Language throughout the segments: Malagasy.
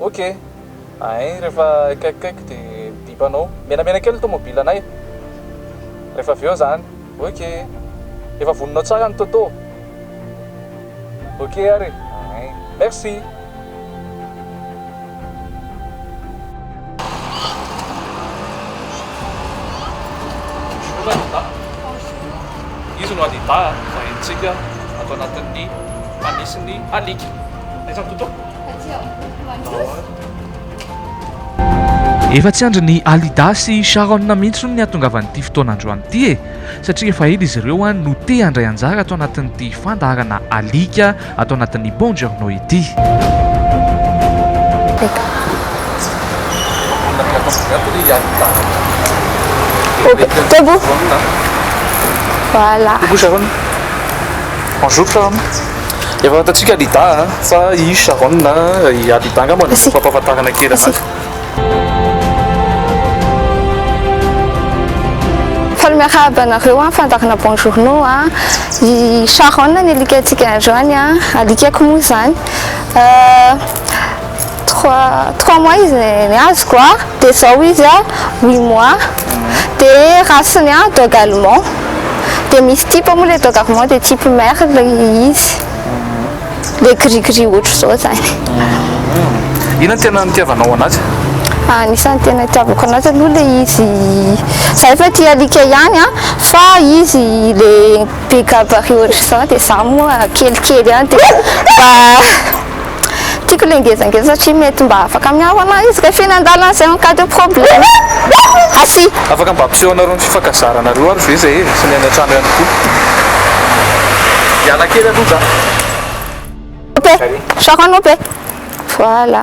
Ok ain rehefa akaikikaiky de mibipa anao menamena kely ny tomobile anay rehefa avy eo zany ok efa voninao tsara ny toto ok ary e ain merci. Izy no adidah, vahentsika ato anatin'ny fanisy ny alika. Aiza ny Toto? Efa tsy andrin'i Alida sy Sharon mihitsy hono ny hahatongavan'ity fotoan'androany ity e! Satria efa ela izy ireo no te handray anjara ato anatin'ity fandaharana alika ato anatin'ny Buongiorno ity. Voilà. Bonjour Sharon. Efa fantatsika Alida a, fa i Sharon na i Alida angamba no fampahafantarana kely anazy. Faly miarahaba anareo an, fandaharana bon journaux an, i Sharon ny alika antsika androany an, alikako moa zany. Trois trois mois izy ny azoko a, de zao izy a huit mois, de race-ny a dog allemand, de misy type moa le dog allemand de type mère le izy, le gris gris ohatr'izao zany. Inona no tena nitiavanao anazy? Anisan'ny tena itiavako anazy aloha le izy, za efa tia alika ihany a, fa izy le be gabarit ohatr'izao de za moa kelikely ihany de mba. Tiako ilay ngezangeza satria mety mba afaka miaro anà izy rehefa eny an-dalana zay en cas de problème. Merci. Afaka mba ampiseho anareo ny fifankazaranareo ary ve zay e? Sy ny any an-trano ihany koa. Hiala kely aloha za. Ope, Sharon ope. Voilà.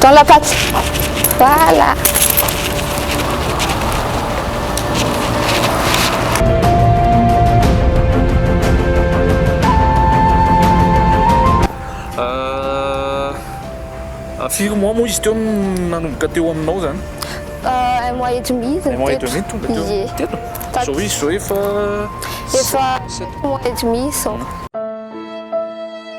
Dans la pâte. Voilà. Euh, à firy mois moa izy teo no nanomboka teo aminao zany? Euh, un mois et demi izy Un mois et teto. demi tonga teo Ie. teto. Tato. Zao izy zao efa Efa sept mois et demi izao.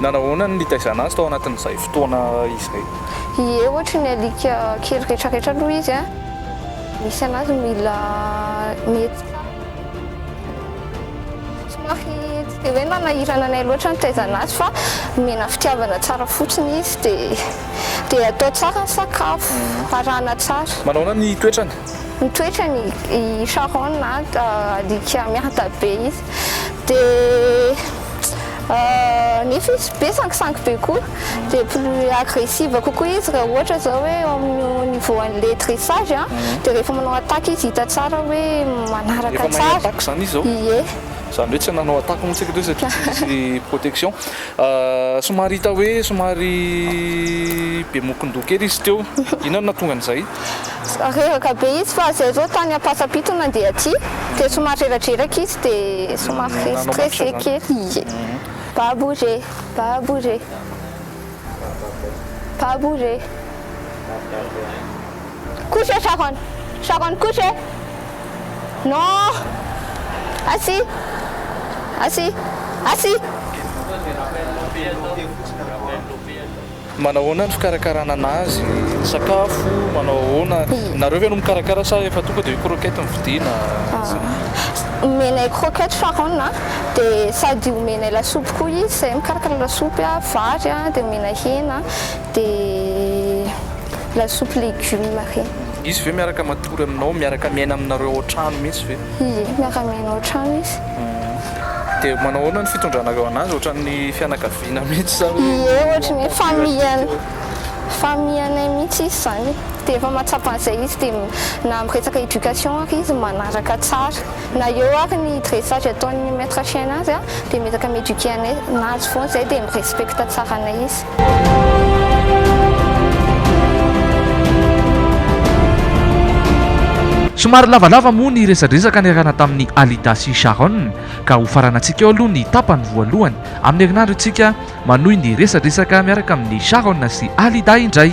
Nanao ahoana ny nitaizana azy tao anatin'izay fotoana izay? Ie, ohatry ny alika kely retraretra aloha izy a! Misy anazy mila mihetsika somary tsy dia hoe nanahirana anay loatra ny nitaizana azy fa nomena fitiavana tsara fotsiny izy dia. Dia atao tsara ny sakafo, arahana tsara. Manaona ny toetrany? Ny toetrany, i Sharon an, alika miada be izy, dia nefa izy be sangisangy be koa, dia plus agressive kokoa izy raha ohatra izao hoe eo amin'io niveau an'ilay dressage an, dia rehefa manao attaque izy hita tsara hoe manaraka tsara. Efa mahay attaque izany izy izao? Ie. Izany hoe tsy nanao attaque moa isika teo satria tsy nisy protection. Somary hita hoe somary be mokon-doha kely izy teo. Inona no nahatonga an'izay? Reraka be izy fa izay izao tany Ampasampito no nandeha aty dia somary reradreraka izy dia somary stressé kely. Babo re, babo re, babo re. Kosa e Sharon Sharon kosa e Non Asi Asi Asi. Manao ahoana ny fikarakarana anazy? Ny sakafo manao ahoana? Nareo ve no mikarakara sa efa tonga dia croquette no vidiana? Omenay croquette Sharon a, dia sady omenay lasopy koa izy, izahay mikarakara lasopy a, vary a, dia omenay hena, dia. Lasopy legioma re. Izy ve miaraka matory aminao, miaraka miaina aminareo ao an-trano mihitsy ve? Ie, miaraka miaina ao an-trano izy. Dia manao ahoana ny fitondranareo an'azy, ohatran'ny fianakaviana mihitsy sa hoe. Ie, ohatry ny familian, familianay mihitsy izy izany. Dia efa mahatsapa an'izay izy, dia na amin'ny resaka éducation ary izy manaraka tsara. Na eo ary ny dressage ataon'ny maître chien anazy dia miezaka mi-éduquer anay, anazy foana izay dia mi-respecte tsara anay izy. Somary lavalava moa ny resadresaka niarahana tamin'i Alida sy Sharon ka hofaranantsika eo aloha ny tapany voalohany amin'ny herinandro isika manohy ny resadresaka miaraka amin'i Sharon sy Alida indray.